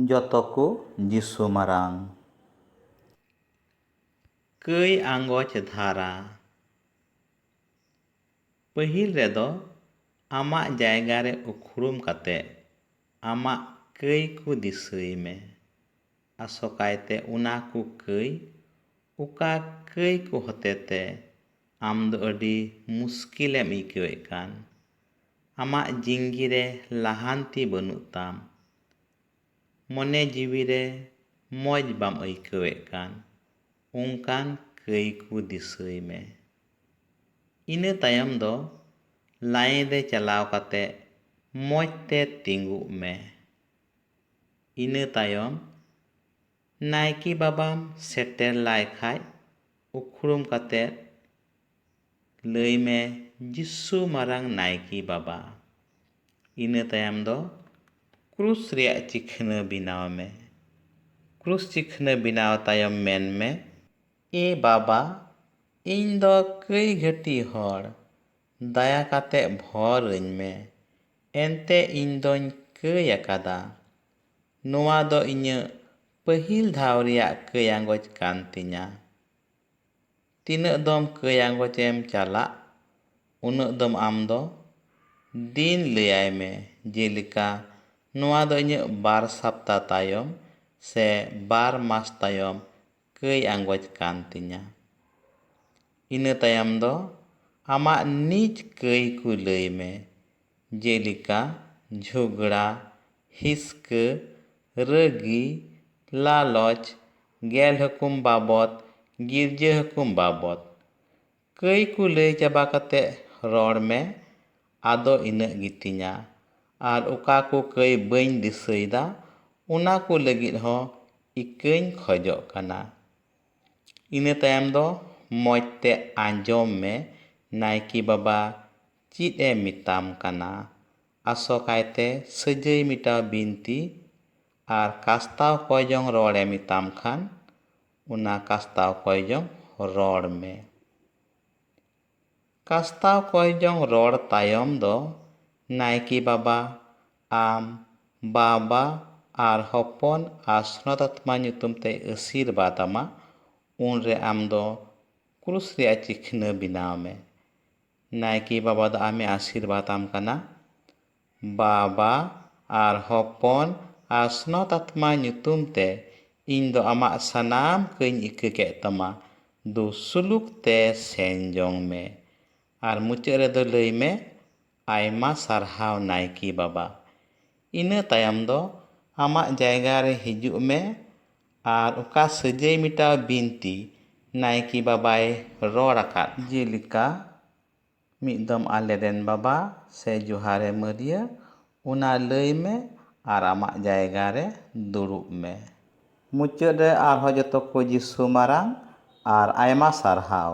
ᱡᱚᱛᱚ ᱠᱚ ᱡᱤᱥᱩ ᱢᱟᱨᱟᱝ᱾ ᱠᱟᱹᱭ ᱟᱸᱜᱚᱪ ᱫᱷᱟᱨᱟ᱾ ᱯᱟᱹᱦᱤᱞ ᱨᱮᱫᱚ ᱟᱢᱟᱜ ᱡᱟᱭᱜᱟ ᱨᱮ ᱩᱠᱷᱲᱩᱢ ᱠᱟᱛᱮ ᱟᱢᱟᱜ ᱠᱟᱹᱭ ᱠᱚ ᱫᱤᱥᱟᱹᱭ ᱢᱮ, ᱟᱥᱚᱠᱟᱭᱛᱮ ᱚᱱᱟ ᱠᱚ ᱠᱟᱹᱭ ᱚᱠᱟ ᱠᱟᱹᱭ ᱠᱚ ᱦᱚᱛᱮᱛᱮ ᱟᱢ ᱫᱚ ᱟᱹᱰᱤ ᱢᱩᱥᱠᱤᱞ ᱮᱢ ᱟᱹᱭᱠᱟᱹᱣᱮᱫ ᱠᱟᱱ᱾ ᱟᱢᱟᱜ ᱡᱤᱝᱜᱤ ᱨᱮ ᱞᱟᱦᱟᱱᱛᱤ ᱵᱟᱹᱱᱩᱜ ᱛᱟᱢ᱾ ᱢᱚᱱᱮ ᱡᱤᱣᱤ ᱨᱮ ᱢᱚᱡᱽ ᱵᱟᱢ ᱟᱹᱭᱠᱟᱹᱣᱮᱫ ᱠᱟᱱ ᱚᱱᱠᱟᱱ ᱠᱟᱹᱭ ᱠᱚ ᱫᱤᱥᱟᱹᱭ ᱢᱮ᱾ ᱤᱱᱟᱹ ᱛᱟᱭᱚᱢ ᱫᱚ ᱞᱟᱭᱤᱱ ᱨᱮ ᱪᱟᱞᱟᱣ ᱠᱟᱛᱮ ᱢᱚᱡᱽ ᱛᱮ ᱛᱤᱸᱜᱩᱜ ᱢᱮ᱾ ᱤᱱᱟᱹ ᱛᱟᱭᱚᱢ ᱱᱟᱭᱠᱮ ᱵᱟᱵᱟᱢ ᱥᱮᱴᱮᱨ ᱞᱟᱭ ᱠᱷᱟᱡ ᱩᱠᱷᱲᱩᱢ ᱠᱟᱛᱮ ᱞᱟᱹᱭ ᱢᱮ ᱡᱤᱥᱩ ᱢᱟᱨᱟᱝ ᱱᱟᱭᱠᱮ ᱵᱟᱵᱟ᱾ ᱤᱱᱟᱹ ᱛᱟᱭᱚᱢ ᱫᱚ ᱠᱨᱩᱥ ᱨᱮᱭᱟᱜ ᱪᱤᱠᱷᱱᱟᱹ ᱵᱮᱱᱟᱣ ᱢᱮ᱾ ᱠᱨᱩᱥ ᱪᱤᱠᱷᱱᱟᱹ ᱵᱮᱱᱟᱣ ᱛᱟᱭᱚᱢ ᱢᱮᱱ ᱢᱮ᱾ ᱮ ᱵᱟᱵᱟ, ᱤᱧ ᱫᱚ ᱠᱟᱹᱭ ᱜᱷᱟᱹᱴᱤ ᱦᱚᱲ, ᱫᱟᱭᱟ ᱠᱟᱛᱮ ᱵᱷᱚᱨ ᱟᱹᱧ ᱢᱮ᱾ ᱮᱱᱛᱮ ᱤᱧ ᱫᱚᱧ ᱠᱟᱹᱭ ᱟᱠᱟᱫᱟ᱾ ᱱᱚᱶᱟ ᱫᱚ ᱤᱧᱟᱹᱜ ᱯᱟᱹᱦᱤᱞ ᱫᱷᱟᱣ ᱨᱮᱭᱟᱜ ᱠᱟᱹᱭ ᱟᱸᱜᱚᱪ ᱠᱟᱱ ᱛᱤᱧᱟ᱾ ᱛᱤᱱᱟᱹᱜ ᱫᱚᱢ ᱠᱟᱹᱭ ᱟᱸᱜᱚᱪ ᱮᱢ ᱪᱟᱞᱟᱜ ᱩᱱᱟᱹᱜ ᱫᱚᱢ ᱟᱢ ᱫᱚ ᱫᱤᱱ ᱞᱟᱹᱭᱟᱭ ᱢᱮ ᱡᱮᱞᱮᱠᱟ ᱱᱚᱣᱟ ᱫᱚ ᱤᱧᱟᱹᱜ ᱵᱟᱨ ᱥᱟᱯᱛᱟ ᱛᱟᱭᱚᱢ ᱥᱮ ᱵᱟᱨ ᱢᱟᱥ ᱛᱟᱭᱚᱢ ᱠᱟᱹᱭ ᱟᱸᱜᱚᱪ ᱠᱟᱱ ᱛᱤᱧᱟ᱾ ᱤᱱᱟᱹ ᱛᱟᱭᱚᱢ ᱫᱚ ᱟᱢᱟᱜ ᱱᱤᱡ ᱠᱟᱹᱭ ᱠᱚ ᱞᱟᱹᱭ ᱢᱮ ᱡᱮᱞᱮᱠᱟ ᱡᱷᱚᱜᱽᱲᱟ, ᱦᱤᱥᱠᱟᱹ, ᱨᱟᱹᱜᱤ, ᱞᱟᱞᱚᱪ, ᱜᱮᱞ ᱦᱩᱠᱩᱢ ᱵᱟᱵᱚᱛ, ᱜᱤᱨᱡᱟᱹ ᱦᱩᱠᱩᱢ ᱵᱟᱵᱚᱛ᱾ ᱠᱟᱹᱭ ᱠᱚ ᱞᱟᱹᱭ ᱪᱟᱵᱟ ᱠᱟᱛᱮ ᱨᱚᱲ ᱢᱮ ᱟᱫᱚ ᱤᱱᱟᱹᱜ ᱜᱮᱛᱤᱧᱟ᱾ ᱟᱨ ᱚᱠᱟ ᱠᱚ ᱠᱟᱹᱭ ᱵᱟᱹᱧ ᱫᱤᱥᱟᱹᱭᱮᱫᱟ ᱚᱱᱟ ᱠᱚ ᱞᱟᱹᱜᱤᱫ ᱦᱚᱸ ᱤᱠᱟᱹᱧ ᱠᱷᱚᱡᱚᱜ ᱠᱟᱱᱟ᱾ ᱤᱱᱟᱹ ᱛᱟᱭᱚᱢ ᱫᱚ ᱢᱚᱡᱽ ᱛᱮ ᱟᱸᱡᱚᱢ ᱢᱮ ᱱᱟᱭᱠᱮ ᱵᱟᱵᱟ ᱪᱤᱫ ᱮ ᱢᱤᱛᱟᱢ ᱠᱟᱱᱟ? ᱟᱥᱚᱠᱟᱭ ᱛᱮ ᱥᱟᱹᱡᱟᱹᱭ ᱢᱤᱴᱟᱣ ᱵᱤᱱᱛᱤ ᱟᱨ ᱠᱟᱥᱛᱟᱣ ᱠᱚᱭ ᱡᱚᱝ ᱨᱚᱲ ᱮ ᱢᱤᱛᱟᱢ ᱠᱷᱟᱱ ᱚᱱᱟ ᱠᱟᱥᱛᱟᱣ ᱠᱚᱭ ᱡᱚᱝ ᱨᱚᱲ ᱢᱮ᱾ ᱠᱟᱥᱛᱟᱣ ᱠᱚᱭ ᱡᱚᱝ ᱨᱚᱲ ᱛᱟᱭᱚᱢ ᱫᱚ ᱱᱟᱭᱠᱤ ᱵᱟᱵᱟ ᱟᱢ ᱵᱟ-ᱵᱟ ᱟᱨ ᱦᱚᱯᱚᱱ ᱟᱨ ᱥᱱᱚᱛᱟᱛᱢᱟ ᱧᱩᱛᱩᱢ ᱛᱮᱭ ᱟᱹᱥᱤᱨᱵᱟᱫᱽ ᱟᱢᱟ ᱩᱱ ᱨᱮ ᱟᱢ ᱫᱚ ᱠᱨᱩᱥ ᱨᱮᱭᱟᱜ ᱪᱤᱠᱷᱱᱟᱹ ᱵᱤᱱᱟᱣ ᱢᱮ᱾ ᱱᱟᱭᱠᱮ ᱵᱟᱵᱟ ᱫᱚ ᱟᱢᱮ ᱟᱥᱤᱨᱵᱟᱫᱽ ᱟᱢ ᱠᱟᱱᱟ᱾ ᱵᱟᱵᱟ ᱟᱨ ᱦᱚᱯᱚᱱ ᱟᱨ ᱥᱱᱚᱛ ᱟᱛᱢᱟ ᱧᱩᱛᱩᱢ ᱛᱮ ᱤᱧ ᱫᱚ ᱟᱢᱟᱜ ᱥᱟᱱᱟᱢ ᱠᱟᱹᱧ ᱤᱠᱟᱹ ᱠᱮᱫ ᱛᱟᱢᱟ ᱫᱩ ᱥᱩᱞᱩᱠ ᱛᱮ ᱥᱮᱱ ᱡᱚᱝ ᱢᱮ᱾ ᱟᱨ ᱢᱩᱪᱟᱹᱫ ᱨᱮ ᱫᱚ ᱞᱟᱹᱭ ᱢᱮ ᱟᱭᱢᱟ ᱥᱟᱨᱦᱟᱣ ᱱᱟᱭᱠᱮ ᱵᱟᱵᱟ᱾ ᱤᱱᱟᱹ ᱛᱟᱭᱚᱢ ᱫᱚ ᱟᱢᱟᱜ ᱡᱟᱭᱜᱟ ᱨᱮ ᱦᱤᱡᱩᱜ ᱢᱮ ᱟᱨ ᱚᱠᱟ ᱥᱟᱹᱡᱟᱹᱭ ᱢᱮᱴᱟᱣ ᱵᱤᱱᱛᱤ ᱱᱟᱭᱠᱮ ᱵᱟᱵᱟᱭ ᱨᱚᱲ ᱟᱠᱟᱫ? ᱡᱮᱞᱮᱠᱟ, ᱢᱤᱫ ᱫᱚᱢ ᱟᱞᱮ ᱨᱮᱱ ᱵᱟᱵᱟ ᱥᱮ ᱡᱚᱦᱟᱨᱮ ᱢᱟᱹᱨᱭᱟᱹ ᱚᱱᱟ ᱞᱟᱹᱭ ᱢᱮ ᱟᱨ ᱟᱢᱟᱜ ᱡᱟᱭᱜᱟ ᱨᱮ ᱫᱩᱲᱩᱵ ᱢᱮ᱾ ᱢᱩᱪᱟᱹᱫ ᱨᱮ ᱟᱨᱦᱚᱸ ᱡᱚᱛᱚ ᱠᱚ ᱡᱤᱥᱩ ᱢᱟᱨᱟᱝ ᱟᱨ ᱟᱭᱢᱟ ᱥᱟᱨᱦᱟᱣ᱾